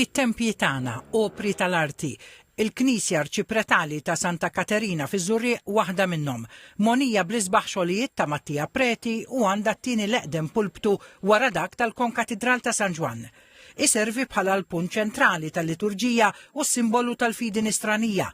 It-tempji tagħna, opri tal-arti. Il-Knisja Arċipretali ta' Santa Katerina fiż-Żurrieq waħda minnhom. Mogħnija bl-isbaħ xogħlijiet ta' Mattia Preti u għandha t-tieni l-eqdem pulptu wara dak tal-Konkatidral ta' San Ġwann. Iservi bħala l-punt ċentrali tal-liturġija u s-simbolu tal-fidi Nisranija.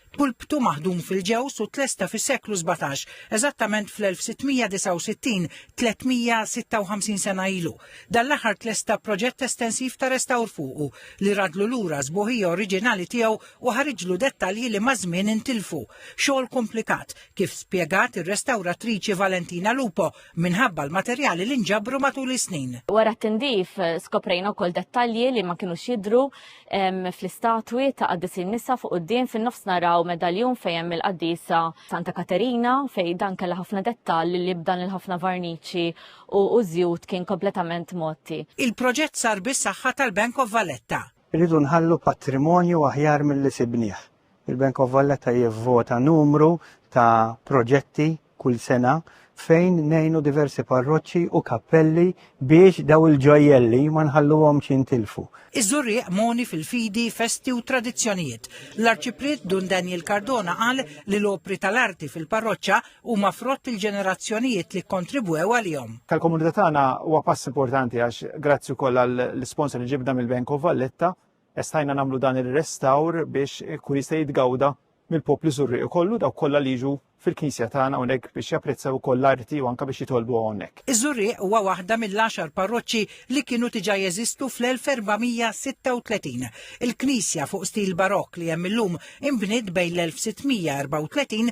Pulptu maħdum fil-ġewż u tlesta fis-seklu sbatax, eżattament fl-1669, 356 sena ilu. Dan l-aħħar tlesta proġett estensiv ta' restawr fuqu, li radlu lura s-sbuħija oriġinali tiegħu u ħariġlu dettalji li maż-żmien intilfu. Xogħol kumplikat, kif spjegat ir-restawratriċi Valentina Lupo, minħabba l-materjali li nġabru matul is-snin. Wara t-tindif skoprejna wkoll dettalji li ma kinux jidhru fl-istatwi ta' qaddisin nisa fuq quddiem fin-nofs naraw medaljun fejn hemm il-qaddisa Santa Katerina fejn dan kellha ħafna dettalji li b'dan il-ħafna varniċi u żjut kien kompletament motti. Il-proġett sar bis-saħħa tal-Bank of Valletta. Irridu nħallu patrimonju aħjar milli sibnieh. Il-Bank of Valletta jivvota numru ta' proġetti kull sena fejn ngħinu diversi parroċċi u kappelli biex daw il-ġojjelli ma nħalluhomx jintilfu. Iż-Żurrieq mogħni fil-fidi, festi u tradizzjonijiet. L-Arċipriet Dun Daniel Cardona qal li l-opri tal-arti fil-parroċċa huma frott il-ġenerazzjonijiet li kkontribwew għalihom. Tal-komunità tagħna huwa pass importanti għax grazzi wkoll għall-isponsor li ġibna mill-Bank of Valletta, estajna nagħmlu dan ir-restawr biex ikun jista' jitgawda mill-poplu Żurrieqi kollu dawk kollha li jiġu fil-Knisja tagħna hawnhekk biex japprezzaw ukoll l-arti u anke biex jitolbu hawnhekk. Iż-Żurrieq huwa waħda mill-għaxar parroċċi li kienu diġà jeżistu fl-1436. Il-knisja fuq stil Barokk li hemm illum inbniet bejn l-1634